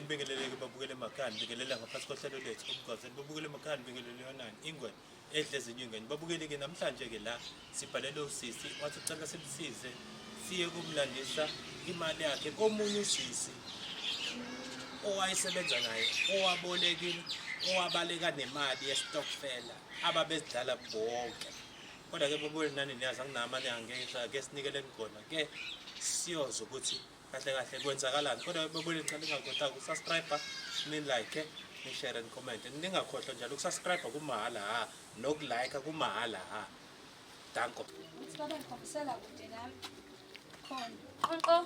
nibingeleleke babukele emakhaya nibingelela ngaphansi kohlelo lethu umgwazeni babukele emakhaya nibingelele yonani ingwe edle ezinyingeni babukele-ke namhlanje-ke la sibhalele usisi wathi ucela simsize siye kumlandisa imali yakhe komunye usisi owayesebenza naye owabolekile owabaleka nemali yesitokfela ababezidlala bonke kodwa ke bobo nani niyazi anginama niyangexha ke sinikele ngigona ke siyoze ukuthi kahle kahle kwenzakalani kodwa bobo ngicela ningakhohlwa ukusubscribe ni like ni share and comment ningakhohlwa njalo ukusubscribe kumahhala ha nokulike kumahhala ha danko ukuthi baba ngikhombisela kude nami khona qonqo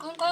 qonqo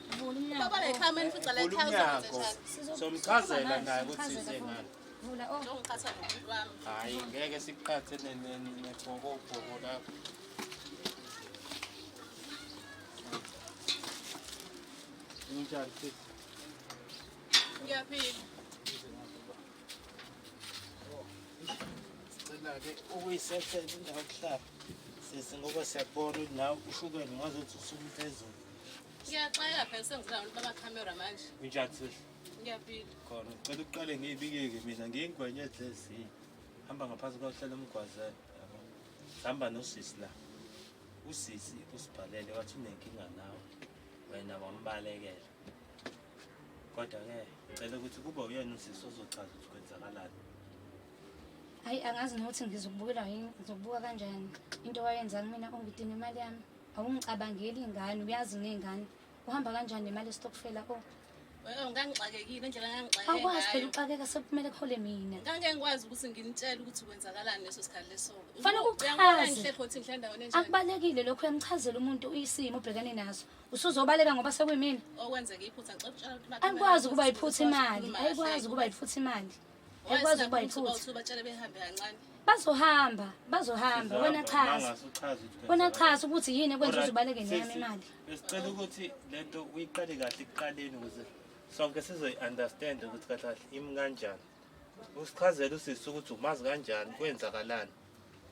Baba la ikhaya manje futhi la ikhaya uzokwenza Somchazela naye ukuthi size ngani. Vula oh. Ngiqhatha nomuntu wami. Hayi ngeke siqhathe nebhokobhoko lapho. Unjani sisi? Ngiyaphila. Sicela-ke ukuyisethela indawo yokuhlala sisi ngoba siyakubona ukuthi nawe ushukela ngazuthi usuku phezulu Ngiyaxela phela sengizila abantu baba camera manje. Unjani sisi? Ngiyaphila. Khona ngicela uqale ngiyibikeke mina ngiyingwenya edlezi. Hamba ngaphansi kwahlala umgwazana. yabo. Hamba nosisi la. Usisi usibhalele wathi unenkinga nawe. Wena wambalekela. Kodwa ke ngicela ukuthi kube uyena usisi ozochaza ukuthi kwenzakalani. Hayi angazi nokuthi ngizokubukela yini, ngizokubuka kanjani. Into wayenza kumina ungidina imali yami. Awungicabangeli ingane uyazi ngengane. Uhamba kanjani nemali estokfela ko? Oh, ngangixakekile indlela ngangixakeke. Awukwazi phela uxakeka sekumele kuhole mina. Ngangeke ngikwazi ukuthi nginitshele ukuthi kwenzakalani leso sikhathi leso. Fanele ukuchaze. Akubalekile lokho uyamchazela umuntu uyisimo ubhekane naso. Usuzobaleka ngoba sekuyimina. Okwenzeka iphutha ngicela ukutshela ukuthi angikwazi ukuba iphutha imali. Ayikwazi ukuba iphutha imali. Yakwazi ukuba yiphutha. Batshele behambe kancane. Bazohamba, bazohamba. Wena chaza. Wena chaza ukuthi yini ekwenza ukuthi ubaleke neyami imali. Besicela ukuthi lento uyiqale kahle ekuqaleni ukuze sonke sizoyi-understand ukuthi kahle kahle imi kanjani. Usichazele usisi ukuthi umazi kanjani, kwenzakalani.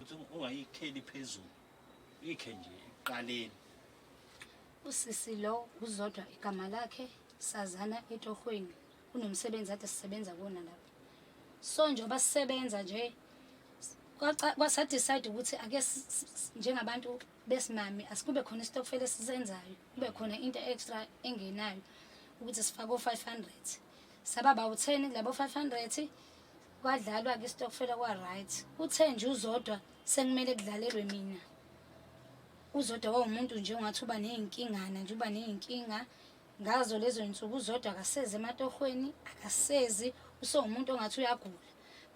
Ukuthi ungayikheli phezulu. Ikhe nje ekuqaleni. Usisi lo uzodwa igama lakhe sazana etohweni. kunomsebenzi ade sisebenza kuwona lapha so njengoba sisebenza nje kwasadecide ukuthi ake njengabantu besimame asikube khona isitokfela esisenzayo kube khona into extra engenayo ukuthi sifake o-five hundred saba bawu-ten kulabo five hundred kwadlalwa-ke isitokfela kwa-right uthe nje uzodwa sekumele kudlalelwe mina uzodwa wawumuntu nje ongathi uba ney'nkingana nje uba ney'nkinga Ngazo lezo nsuku uZodwa akasezi ematohweni, akasezi, usewumuntu ongathi uyagula.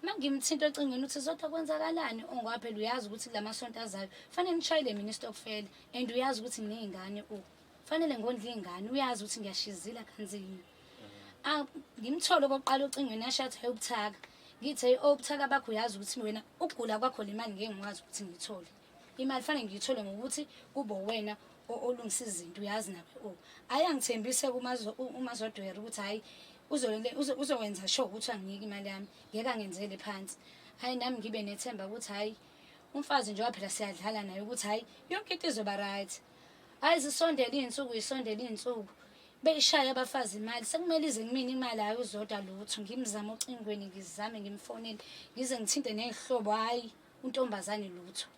Uma ngimthinta ocingweni uthi Zodwa kwenzakalani ongwaphela uyazi ukuthi kula masonto azayo fanele ngishayele mina istokfela and uyazi ukuthi nginey'ngane u fanele ngondla iy'ngane uyazi ukuthi ngiyashizila kanzima. Ah, ngimthole okokuqala ocingweni yashathi ayobuthaka. Ngithe obuthaka bakho uyazi ukuthi wena ukugula kwakho le mali ngeke ngikwazi ukuthi ngiyithole. imali fanele ngiyithole ngokuthi kube wena olungisa izinto uyazi nabe o oh, ayi angithembise umazodwera ukuthi hhayi uzokwenza sho ukuthi anginike imali yami ngeke angenzele phansi hhayi nami ngibe nethemba ukuthi hhayi umfazi njengoba phela siyadlala naye ukuthi hhayi yonke into izoba right hhayi zisondele iy'nsuku yisondele iy'nsuku beyishaya abafazi imali sekumele ize kumina imali hhayi uzodwa lutho ngimzame ocingweni ngizame ngimfonele ngize ngithinte ney'hlobo hhayi untombazane lutho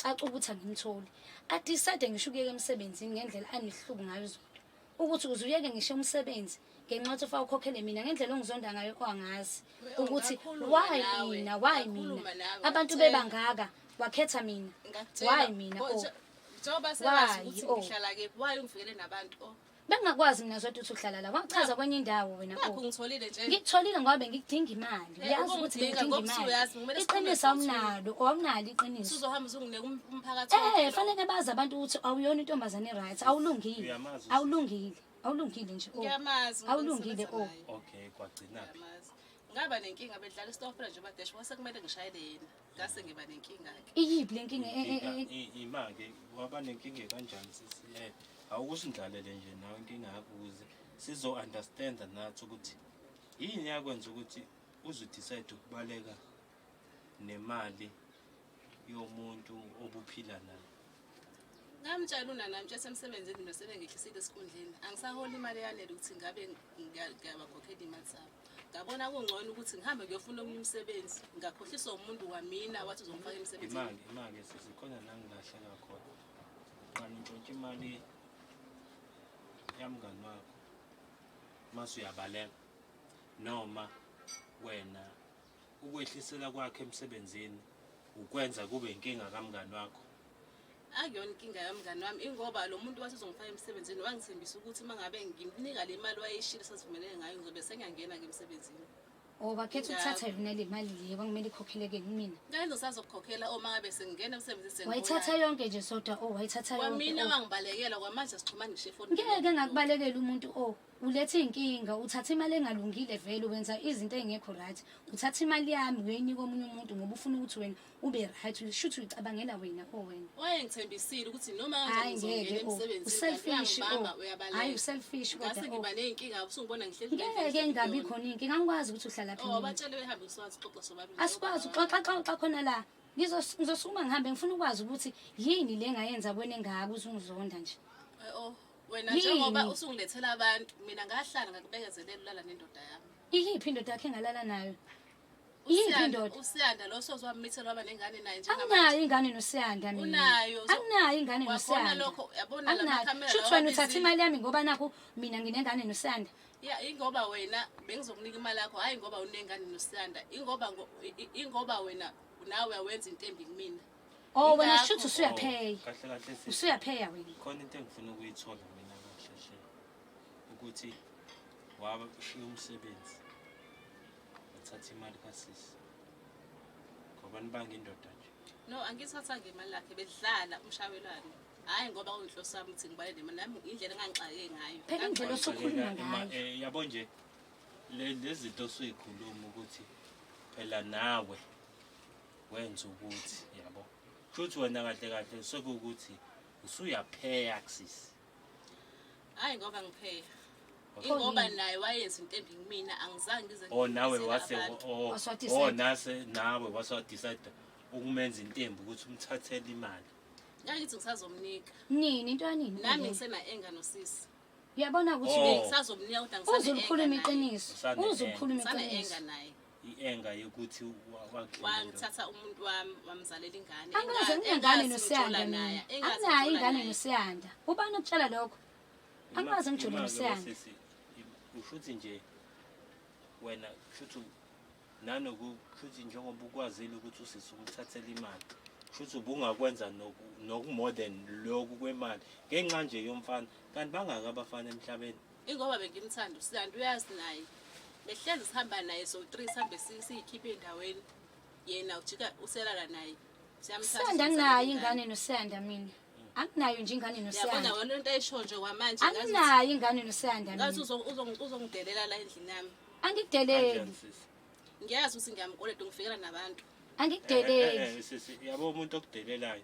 caca ukuthi angimtholi adecide ngisho ukuyeka emsebenzini ngendlela anehluku ngayo izolo ukuthi uze uyeke ngisho umsebenzi ngenxa yokuthi ufa ukhokhele mina ngendlela ongizonda ngayo kwangazi ukuthi why mina why mina abantu bebangaka wakhetha mina why mina oh njengoba sebazi ukuthi oh. ngihlala kephi why ungifikele nabantu oh Bengingakwazi mina zodwa ukuthi uhlala la. Wangichaza kwenye indawo wena. Nakho Oh. ngitholile nje. Ngikutholile ngoba bengidinga imali. Eh, Uyazi ukuthi ubungidinga, bengidinga ngoba imali. usuyazi, kumele sikhulume Iqiniso futhi. awunalo, awunalo iqiniso. Usuzohamba uzonginika um- umphakathi. Eh, wonke. fanele bazi abantu ukuthi awuyona intombazane right, awulungile. Uyamazi uSisi. Awulungile. Awulungile nje. oh. Ngiyamazi. umuntu Awulungile, engisebenza oh. naye. okay kwagcinaphi Ngiyamazi. Ngaba nenkinga bedlala istofela nje badesh kwase kumele ngishayele yena. ngase ngiba nenkinga ke iyiphi lenkinga e- e- e- e- imake waba nenkinga kanjani sisi eh awukusindlalele nje nawe inkinga yakho ukuze sizo understand nathi ukuthi yini yakwenza ukuthi uzu decide ukubaleka nemali yomuntu obuphila naye ngamtshela unanami ukuthi esemsebenzini mina sebengehlisile esikhundleni angisaholi imali eyanele ukuthi ngabe ngiyabakhokhela imali zabo ngabona kungcono ukuthi ngihambe ngiyofuna omunye umsebenzi ngakhohliswa umuntu wamina wathi uzongifaka emsebenzini imali imali sisikhona la ngilahleka khona qani ntshontsha imali yamngani wakho mase uyabaleka noma wena Ukwehlisela kwakhe emsebenzini ukwenza kube inkinga kamngani wakho. Akuyona inkinga yamngani wami ingoba lo muntu wathi uzongifaka emsebenzini wangithembisa ukuthi uma ngabe ngimnika le mali wayeyishilo sasivumelene ngayo ngizobe sengiyangena ke emsebenzini. O oh, bakhetha ukuthatha yona le mali le kwakumele ikhokheleke kumina. Ngeke ngisazokukhokhela uma ngabe sengingena emsebenzini sengibuya. Wayithatha yonke nje sodwa o oh, wayithatha yonke. Kwamina oh. wangibalekela kwamanje sixhumana ngisho efonini. Ngeke ngakubalekela umuntu o. Ulethe inkinga, uthatha imali engalungile vele wenza izinto ezingekho right. Uthatha imali yami uyoyinika omunye umuntu ngoba ufuna ukuthi wena ube right. Ushuthi uyicabangela wena o wena. Wayengithembisile ukuthi noma Hayi kanjani ngeke ngizongena o. emsebenzini Uselfish o. uyangibamba Hayi uyabaleka. uselfish kodwa Ngase o. ngiba ney'nkinga usungibona ngihleli Ngeke ingabi khona inkinga angikwazi ukuthi uhlala phi. Oh mina. batshele behambe usiwazi xoxa sobabili. asikwazi uxoxa xoxa khona la Ngizos- ngizosukuma ngihambe ngifuna ukwazi ukuthi yini le ngayenza kwena engaka uze ungizonda nje Eh, Oh wena Yini? njengoba usungilethela abantu mina ngahlala ngakubekezelela ulala nendoda yami iyiphi indoda yakhe engalala nayo iyiphi Usiyanda- indoda usiyanda lo sozwamithela waba nengane naye njengamanje anginayo ingane nosiyanda mina unayo so- anginayo ingane wabona nosiyanda lokho yabona la anginayo makhamera shuthi wena uthatha wababizile. imali yami ngoba nakhu mina nginengane nosiyanda ya ingoba wena bengizokunika imali yakho hhayi ngoba unengane nosiyanda ingoba ngo- i- i- ingoba wena nawe awenza into embi kumina Oh wena Ingakho. shuthi usuyapheya. kahle kahle sisi Usuyapheya wena. khona into engifuna ukuyithola mina kahle hle ukuthi waba ushiye umsebenzi wathatha imali kasisi ngoba nibanga indoda nje no angithathanga imali lakhe bedlala umshawelane hhayi ngoba uyinhloso yami ukuthi ngibale nemali nami indlela engangixake ngayo Phela indlela Ngangixake- osukhuluma Ngicela ima- ngayo. eh, yabo nje le- lezi zinto osuyikhuluma ukuthi phela nawe wenza ukuthi yabo futhi wena kahle kahle sekuwukuthi usuyapheya kusisi hayi ngoba ngipheya ingoba naye wayenza into embi kumina angizange ngize o oh, nawe wase oh, o oh, nase nawe wase wadecide ukumenza into embi ukuthi umthathele imali ngangithi ngisazomnika nini into yanini nami ngisena-enga nosisi uyabona ukuthi ngisazomnika kodwa ngisazomkhuluma iqiniso uzokhuluma iqiniso naye i-enga yokuthi wangithatha umuntu wami wamzalela ingane angaze ngingane nosiyanda naye anginayo ingane nosiyanda ubani okutshela lokho angaze ngijule nosiyanda ushuthi nje wena shuthi nanoku shuthi njengoba ukwazile ukuthi usisi umthathele imali shuthi ubungakwenza noku more than lokhu kwemali ngenxa nje yomfana kanti bangaka abafana emhlabeni Ingoba bengimthanda uSiyanda uyazi naye. Behlezi sihamba naye so 3 sihambe siyikhiphe endaweni. Yena ujika uselala naye. Siyamthanda. Siyanda naye ingane noSiyanda mina. anginayo nje ingane nosiyanda wena into ayisho nje kwamanje anginayo ingane nosiyanda ngathi uzongidelela la endlini yami angikudeleli ngiyazi ukuthi ngiyamkoleta ngifikela nabantu angikudeleli eh, eh, eh, yabo umuntu okudelelayo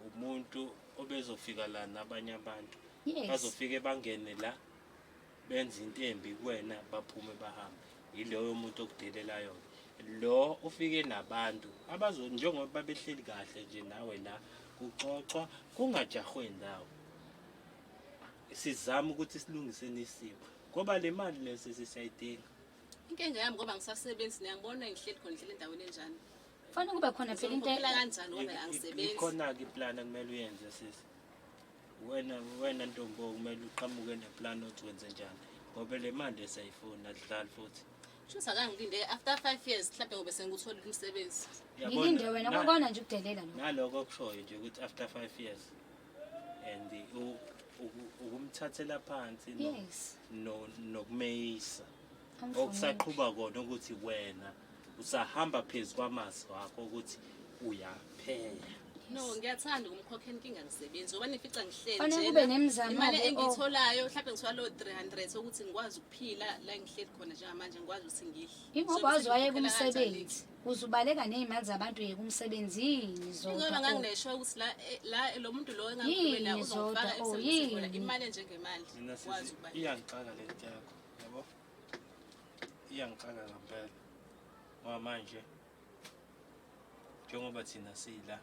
umuntu obezofika la nabanye abantu yes. bazofike bangene la benze into embi kuwena baphume bahambe yiloyo muntu okudelelayo lo ufike nabantu abazo njengoba babehleli kahle nje nawe la kuxoxwa kungajahwe ndawo sizama ukuthi silungise nesimo ngoba le mali lesi sisayidinga inkinga yami ngoba ngisasebenzi niyangibona ngihleli khona ngihleli endaweni enjani Fana kube khona phela into Uphila kanjani ngoba angisebenzi. ikhona-ke iplani ekumele uyenze sisi wena wena ntombo kumele uqhamuke neplani othi wenze njani ngoba le mali esayifuni adlali futhi Shuthi akangilinde after 5 years mhlawumbe ngobe sengikuthola umsebenzi. Uyabona? ngilinde wena Na- kwakona nje ukudelela lo naloko okushoyo nje ukuthi after five years and u- uku- ukumthathela phansi no- yes no- nokumeyisa angifuni okusaqhuba kona ukuthi wena usahamba phezu kwamazwi wakho ukuthi uyaphela no ngiyathanda ukumkhokha inkinga ngisebenzi ngoba nifica ngihlelimali oh. engiyitholayo mhlawumbe ngithola loo three hundred ukuthi ngikwazi ukuphila la ngihleli khona njengamanje ngikwazi ukuthi ngidle ingoba waze wayeka umsebenzi uzubaleka ney'mali zabantu yeka umsebenzi yini zoda nganginesho ukuthi la eh, la lo muntu lo engakhulumela uzofaka oh, emsebenzini imali enjengemali wazi ukuba iyangixaka le nto yakho yabo iyangixaka ngampela ngoba manje njengoba thina sila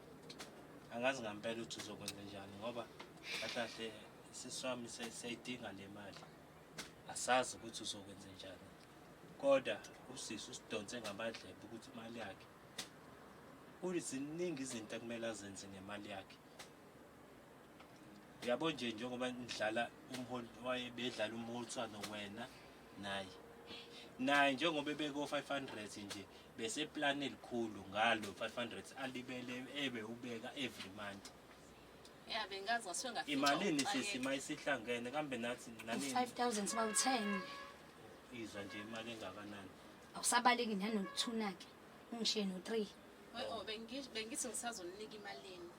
angazi ngampela ukuthi uzokwenza njani ngoba kahlahle siswami siyayidinga le mali asazi ukuthi uzokwenza njani kodwa usisi usidonse ngamadlebe ukuthi imali yakhe ziningi izinto ekumele azenze ngemali yakhe Uyabo nje njengoba nidlala umholi waye bedlala umholiswano wena naye. Naye njengoba ebeko 500 nje bese plan elikhulu ngalo 500 alibele ebe ubeka every month. Yeah bengazi ngasuke ngafika. Imalini sisi mayisihlangene kambe nathi nani 5000 siba u10. Izwa nje imali engakanani. Awusabaleki nanokuthuna ke. Ungishiye no 3. Oyo bengithi ngisazoninika imalini.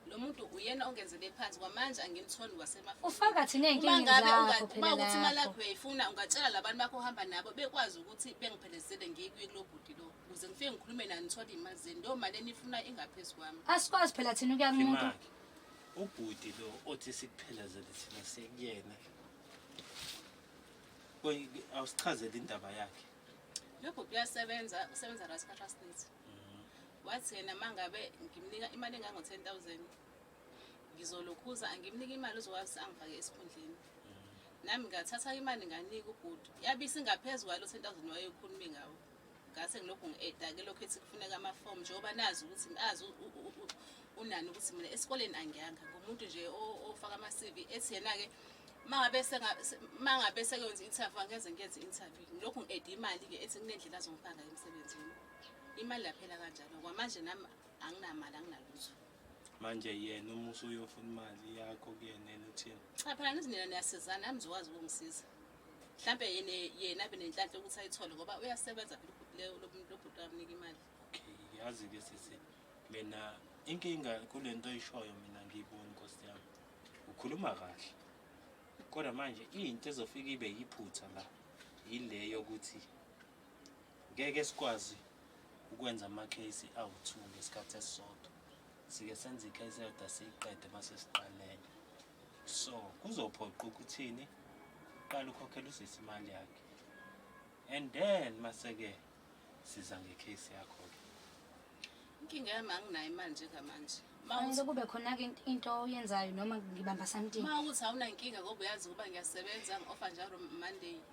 lo muntu uyena ongenzele phansi kwamanje angimtholi wasemafuta ufaka thina ey'nkingeni ngabe zakho unga- phela uma ukuthi imali lapho. yakho uyayifuna ungatshela labantu bakho ohamba nabo bekwazi ukuthi bengiphelezele ngikuye kulo bhuti lo ukuze ngifike ngikhulume nani ngithole iy'mali zenu leyo mali enifuna ingaphezu kwami asikwazi phela thina ukuya kumuntu Imali. Ubhuti lo othi sikuphelezele thina sekuyena. Koyi awusichazele indaba yakhe. lo bhuti uyasebenza usebenza la sikhathi asininzi wathi yena mangabe ngimnika imali engango 10000 ngizolokhuza angimnika imali uzokwazi angifake esikhundleni nami ngathatha imali nganika ubhuti yabe isingaphezu kwalo 10000 wayekhulumi ngawo ngase ngilokhu ngi-edake lokhu ethi kufuneka amafomu njengoba nazi ukuthi azi unani ukuthi mina esikoleni angiyanga ngumuntu nje ofaka ama-cv ethi yena-ke mangabe sekwenza i-interview angeze ngiyenze i-interview ngilokhu ngi-ede imali-ke ethi kunendlela azongifaka emsebenzini imali yaphela kanjalo kwamanje nami anginamali anginalutho manje yena uma usuyofuna imali yakho kuyena yena uthini cha phela nizinina niyasizana nami zokwazi ukungisiza mhlawumbe yena yena abe nenhlanhla ukuthi ayithole ngoba uyasebenza phela ubhuti leyo lo muntu lobhuti amnika imali okay yazi ke sisi mina inkinga kule nto oyishoyo mina ngiyiboni nkosi yami ukhuluma kahle kodwa manje into ezofika ibe yiphutha la yile yokuthi Ngeke sikwazi ukwenza amakheyisi awu-two ngesikhathi esisodwa. Sike senze ikheyisi eyodwa siyiqede mase siqalenye. So kuzophoqa ukuthini uqale ukhokhela usisi imali yakhe and then mase-ke siza ngekheyisi yakho-ke. Inkinga yami anginayo imali njengamanje. Manje kube khona-ke into oyenzayo noma ngibamba something. Uma ukuthi awunankinga ngoba uyazi ukuba ngiyasebenza ngi-offa njalo Monday.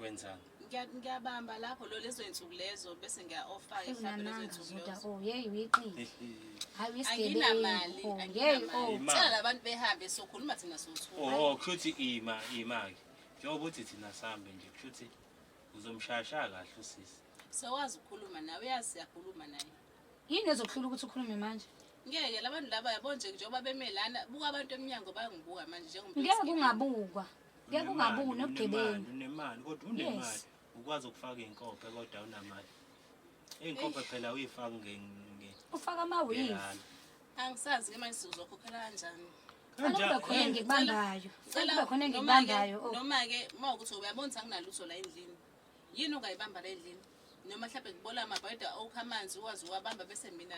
wenzani Ngiya- ngiyabamba lapho lo lezo zinsuku lezo bese ngiya-ofa mhlawumbe lezo Ungananga zinsuku zoda lezo oh yeyi uyiqili hayi anginamali uyisigebengu oh yeyi anginamali oh Imali. cela labantu behambe sokhuluma thina sothula oh kushuthi ima ima-ke njengoba uthi thina sihambe nje kushuthi uzomshayashaya kahle usisi sewazi ukukhuluma nawe uyazi siyakhuluma naye yini ezokuhlula ukuthi ukhulume manje ngeke labantu laba yabo nje njengoba beme lana buka abantu emnyango bayangibuka manje njengomuntu ngeke oyisigebengu. ungabukwa Kuya kungabi unobugebengu. Unemali kodwa unemali. Yes. Ukwazi ukufaka inkophe kodwa unamali. Inkophe phela uyifaka nge nge. Ufaka ama weave. Ngelala. Angisazi ke manje sizokhokhela kanjani. Kufanele kube Kanjani? khona engikubambayo. Kufanele kube khona engikubambayo. Oh, Noma-ke uma ukuthi uyabona ukuthi anginalutho la endlini. yini ungayibamba la endlini noma mhlawumbe ngibola amabhayida okha amanzi uwazi uwabamba bese mina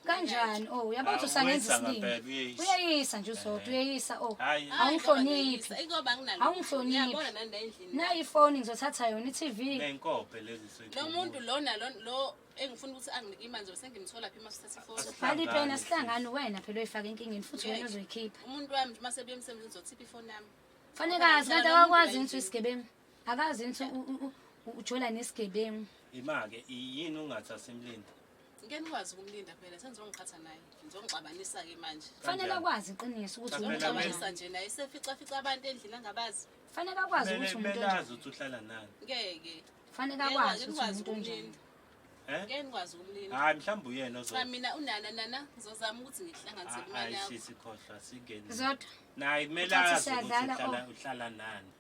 kanjani o oh, yabona ukuthi usangenza isiningi uyeyisa nje uzodwa eh. uyeyisa o oh. awungihloniphi awungihloniphi nayi ifoni ngizothatha yona i-tv lo muntu lona lo engifuna ukuthi anginike imali zobe sengimthola phi uma sithatha ifoni bhala ipeni asihlangani wena phela oyifaka enkingeni futhi wena uzoyikhipha umuntu wami uma sebuye emsebenzini uzothipha ifoni yami fanekazi kanti awakwazi ngithi uyisigebengu akazi ngithi ujola nesigebengu imake yini ungathi asimlindi ngeke nikwazi ukumlinda phela senizongiqhatha naye ngizongixabanisa-ke manje fanele akwazi iqiniso ukuthi ngizongixabanisa nje naye seficafica abantu endlini angabazi fanele akwazi ukuthi umuntu onjani ukuthi uhlala nani ngeke fanele akwazi ukuthi umuntu onjani Eh? Ngeke nikwazi ukumlinda. Hayi mhlawumbe uyena ozo. Cha mina unana nana ngizozama ukuthi ngihlanganise ah, imali yakho. Hayi sikhohlwa singeni. Zodwa. Nayi kumele azi ukuthi uhlala oh. uhlala nani.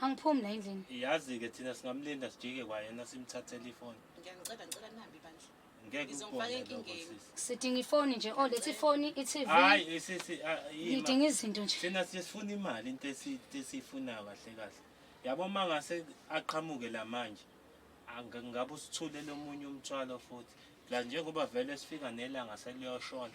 angiphumi la endlini iyazi-ke thina singamlinda sijike kwayena simthathele ifoni ngiyanicela ngicela nihambe bandla ngeke Ngizomfaka ukubone lokho enkingeni. sisi sidinga ifoni nje o lethi ifoni i-tv hayi sisi ah, yima. ngidinga izinto nje thina sifuna imali into esi- into esiyifunayo kahle kahle yabo uma ngase aqhamuke la manje anga- ngabe usithulele omunye umthwalo futhi la njengoba vele sifika nelanga seliyoshona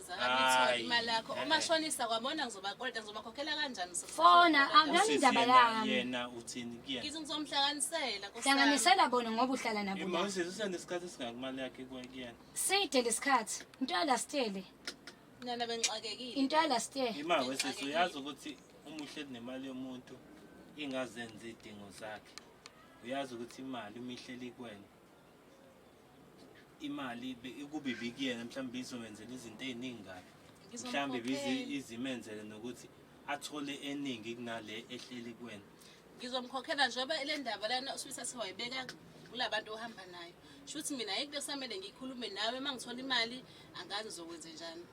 Akayitholi Ayi. imali yakho Eh, eh. umashonisa kwabona ngizobakoleta ngizobakhokhela kanjani sisi? Fona, ah, nami Usisi indaba yena- yami. yena uthini kuyena ngithi ngizomuhlanganisela Nkosi yami. hlanganisela bona ngoba uhlala nabo Yema, la usisi usenesikhathi esingaki imali yakhe kuwe kuyena side lesikhathi into yalastele nana bengixakekile into yalastele ima wesisi uyazi ukuthi uma uhleli nemali yomuntu ingazenzi idingo zakhe uyazi ukuthi imali uma ihleli kuwena imali kube ibikuyena mhlawumbe izomenzela izinto ey'ningi kabi mhlawumbe izimenzele nokuthi athole eningi kunale ehleli kuwena ngizomkhokhela njengoba le ndaba lana usibisa siwayibeka kula bantu ohamba nayo shuthi mina yikho kusamele ngikhulume nawe uma ngithola imali angazi ngizokwenze njani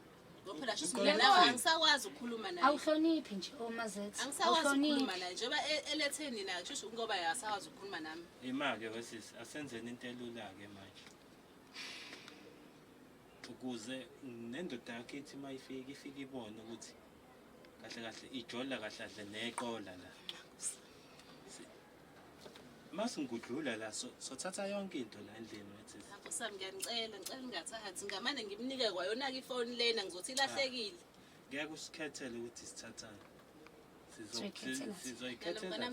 Ngophela shuthi mina nawe angisakwazi ukukhuluma naye. Awuhloniphi nje omazethe. Oh, angisakwazi ukukhuluma naye njengoba e- elethe nina shuthi ngoba akasakwazi ukukhuluma nami. Yima-ke wesisi asenzeni into elula-ke manje ukuze nendoda yakho ithi uma ifika ifike ibone ukuthi kahle kahle ijola kahle kahle neqola la Uma singudlula la so- sothatha yonke into la endlini wethi. Lapho sami ngiyanicela ngicela ningathathi ngamane ngimnike kwayona-ke ifoni lena ngizothi ilahlekile. Ngeke usikhethele ukuthi sithathani. Sizo- Sizoyikhethela. si- Sizoyikhethela. Nalobona thina.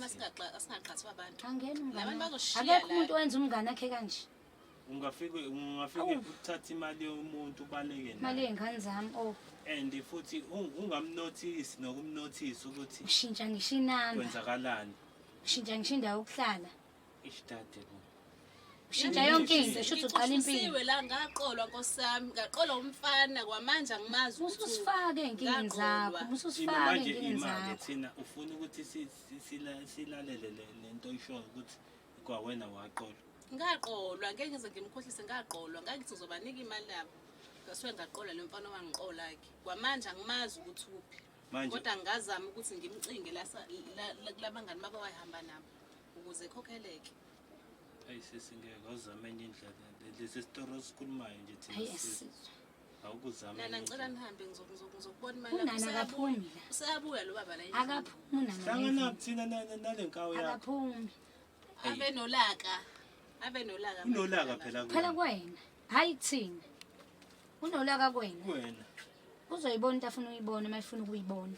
masingaqhathwa abantu. Angena Labantu umngane. bazoshiya Akekho la. umuntu owenza umngane akhe kanje. ungafike ungafike Awu. uthathe imali yomuntu ubaleke imali nayo yey'ngane zami oh and futhi ung- ungamnothisi nokumnothisa ukuthi ushintsha ngisho inamba kwenzakalani ushintsha ngisho indawo yokuhlala ishtade bo ushintsha yonke into shuthi uqala impilo Ngixushisiwe la ngaqolwa nkosami ngaqolwa umfana kwamanje angimazi ukuthi ususifake ey'nkingeni zakho Ngaqolwa. thina ususifake manje ey'nkingeni imake zakho thina ufuna ukuthi si- si- sila- silalele le- le nto oyishoyo ukuthi kwawena waqolwa ngaqolwa ngeke ngize ngimkhohlise ngaqolwa ngangithi ngizobanika imali yabo ngasuke ngaqola lo mfana owangiqola-ke kwamanje angimazi ukuthi uphi Manje- kodwa ngingazama ukuthi ngimcinge lasa- la- la- kulabangani baba wayihamba nabo ukuze khokheleke ayi sisi ngeke awuzame enye indlela lesi sitoro esikhulumayo nje thina Ayi sisi. asizwa. awukuzama nana ngicela nihambe ngizokubona imali unana akaphumi la useyabuya lo baba la akaphumi unana hlangana kuthina nale nkawo yakho akaphumi abe nolaka abe nolaka unolaka phela kuwena phela kuwena hayi thina unolaka kuwena kuwena uzoyibona into afuna uyibona uma efuna ukuyibona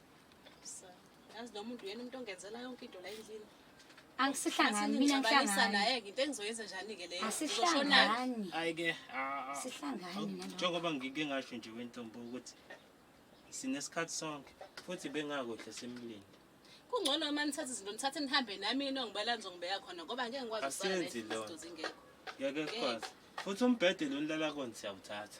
yazi noma umuntu uyena umuntu ongenzela yonke into la endlini angisihlangani mina ngihlangani naye-ke into engizoyenza njani-ke leyo asihlangani hayi-ke sihlangani njengoba ngike ngasho nje wentombo ukuthi sinesikhathi sonke futhi bengakuhle simlinde kungcono uma nithatha izinto nithathe nihambe nami yini ongibala nizongibeka khona ngoba ngeke ngikwazi ukusenzi lona ngeke sikwazi futhi umbhede lo nilala kona siyawuthatha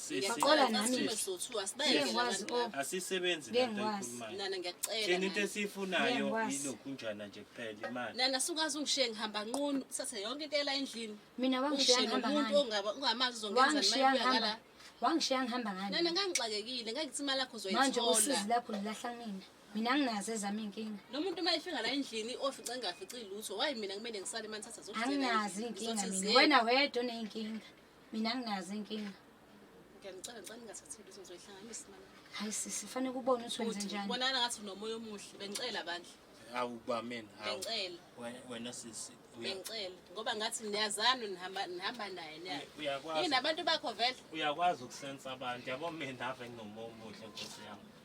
Baqola nami. Ngiyakwazi o. asisebenzi le nto Ngiyakwazi. eyikhulumayo Nana ngiyakucela. thina into Nana. esiyifunayo Ngiyakwazi. ilokhunjana nje kuphela imali Nana sukwazi ungishiye ngihamba nqunu kusase yonke into ela endlini. Mina wangishiya Ungishiye ngihamba nomuntu ngani? ongaba ungamazi uzongenza Wangishiya imali ngihamba. yakala. Wangishiya ngihamba Nana ngani? ngangixakekile ngangithi imali yakho Manje usizi uzoyithola. lakho lilahla mina. Mina anginazo ezami inkinga. Lo muntu uma efika la endlini ofica engafici lutho wayi mina kumele ngisale manje thatha zokuzela. Anginazi inkinga mina. Wena wedwa oneyinkinga. Mina nginazo inkinga. Ngiyamcela ngicela ningathathi lutho ngizoyihlanganisa imali. Hayi sisi fanele kubone ukuthi wenze njani. Bonana ngathi unomoya omuhle bengicela bandla. Awu ba mina. Bengicela. Wena sisi. Bengicela ngoba ngathi niyazana nihamba nihamba naye niyazi. Uyakwazi. Yini abantu bakho vele? Uyakwazi ukusensa abantu yabo mina ave nginomoya omuhle nkosi yami.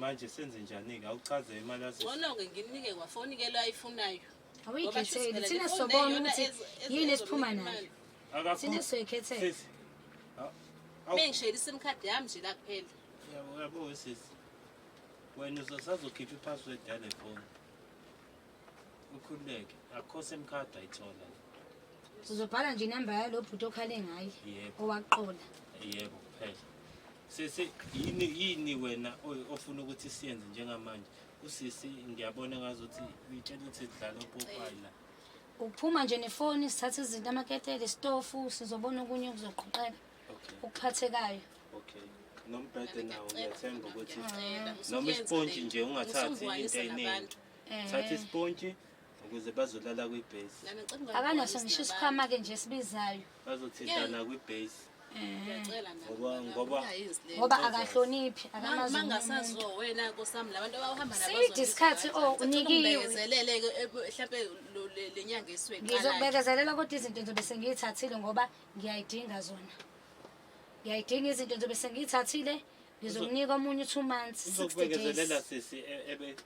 manje senze njani-ke awuchaze imali azona-ke ngimnike kwafoni ke lo ayifunayo awuyikhetheli thina sobona ukuthi yini esiphuma nayo thina soyikhethele mengishayela isim card yami nje la kuphela yabo wesisi wena uzosazokhipha i-password yale foni ukhululeke akho semkhadi ayithola uzobhala nje inamba yalo bhuti okhale ngaye owaqola yebo kuphela sisi yini yini wena ofuna ukuthi siyenze njengamanje usisi ngiyabona ngazuthi uyitshela ukuthi sidlala opopayi la ukuphuma nje nefoni sithathe izinto amaketele isitofu sizobona okunye okuzoqoqeka okuphathekayo okay nombhede nawo ngiyathemba ukuthi noma isipontshi nje ungathathi into eyiningi thatha isipontshi ukuze bazolala kwibhesi akanaso ngisho isikhwama-ke nje esibizayo bazothintana kwibhesi ngoba akahloniphi akamaziside isikhathi o unikiwengizokubekezelela kodwa izinto ngizobe sengiyithathile ngoba ngiyayidinga zona ngiyayidinga izinto ngizobe sengiyithathile ngizokunika omunye u-two months sixty days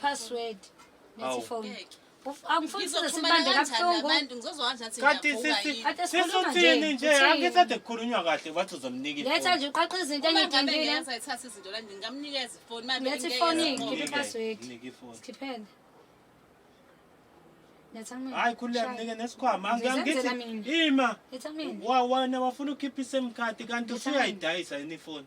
Password. Awu. Kanti sisi sisuthini nje angisade kukhulunywa kahle bathi uzomnika letha ifoni. nje uqaqa izinto engidindile letha ifoni Mnike, ngikhiphe iphaswedi mnike ifoni. sikhiphele letha kumina Hayi khuleka Shaya. mnike nesikhwama Angi- Ngizenzela angithi mina. ima letha kumina wa wena wafuna ukukhipha isim card kanti Letha usuyayidayisa yini ifoni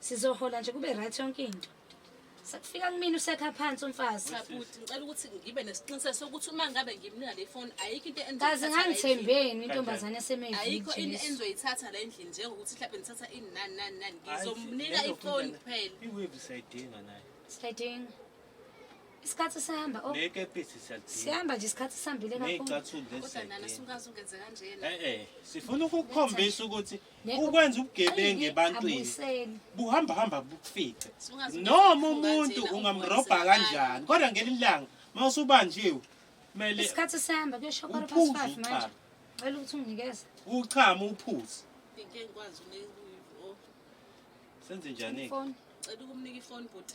sizohola nje kube right yonke into sakufika kumina usekha phansi umfazi Bhuti ngicela ukuthi ngibe nesiqiniseko sokuthi uma ngabe ngimnika le phone ayikho into kazi engizoyithatha la endlini. ngangithembeni intombazane ayikho into esemejesu engizoyithatha la endlini njengokuthi mhlawumbe ngithatha ini nani nani nani ngizomnika ifoni kuphela iwave siyayidinga nayo siyayidinga isikhathi sihamba oh, nekepisi siyalidinga sihamba nje isikhathi sihambile kakhulu ney'cathulo lezi kodwa nana siyayidinga sungaze ungenze kanjena e-e sifuna ukukhombisa ukuthi ukwenza ubugebengu ebantwini buhamba hamba bukufice noma umuntu ungamrobha kanjani kodwa ngelinye ilanga uma usubanjiwe kumele isikhathi sihamba kuyosho quarter past five manje cela ukuthi unginikeze uchama uphuze senze njani-ke cela ukumnika ifoni bhuti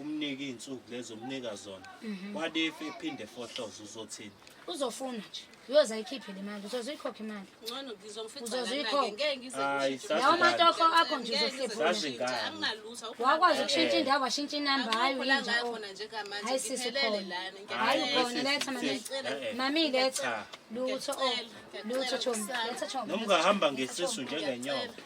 umnike iy'nsuku lezo umnika zona mhm. what if ephinde fohloze uzothini uzofuna nje uyoze ayikhiphe le mali uzoze uyikhokhe imali uzozeyikhokelawo matoko akho nje uzohlephwakwazi ukushintsha indawo washintsha inamba hayi uyinjhayi sisikhonhayi ukhona letha mami letha lutho lutho chomi letha chomi nomngahamba ngesisu njengenyoka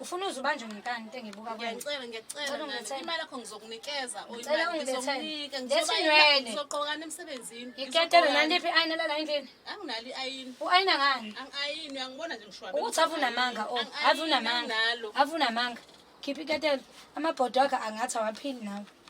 ufuna uze ubanjwe ngekani into engibuka kuyanicela ngiyacela imali yakho ngizokunikeza ngizoqokana emsebenzini iketele nandiphi i-ayina lala endlini anginalo i-ayini u-ayina ngani angi-ayini uyangibona nje ngishwabe ukuthi ave unamanga o oh, ave unamanga ave unamanga khipha iketele amabhodo wakhe angathi awaphili nawe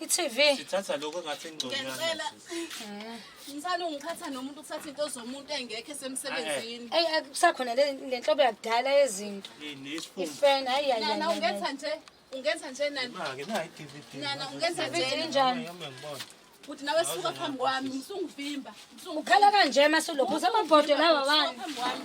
I-TV. Sithatha lokho engathi ingconywana. Ngiyacela. Msana ungiphatha nomuntu ukuthatha into zomuntu engekho esemsebenzini. Ayi akusakhona le le nhlobo yakudala yezinto. Yini isifundo? Ifan hayi hayi. Nana hayi, ungenza hayi. nje. Ungenza nje nana. Maki nayi i-DVD. Nana ungenza nje. Video enjani? Yami ngibona. Futhi nawe suka phambi kwami. Usungivimba. Usungivimba. Ukhala kanje masulokhu usamabhodwe lawa wani. Phambi kwami.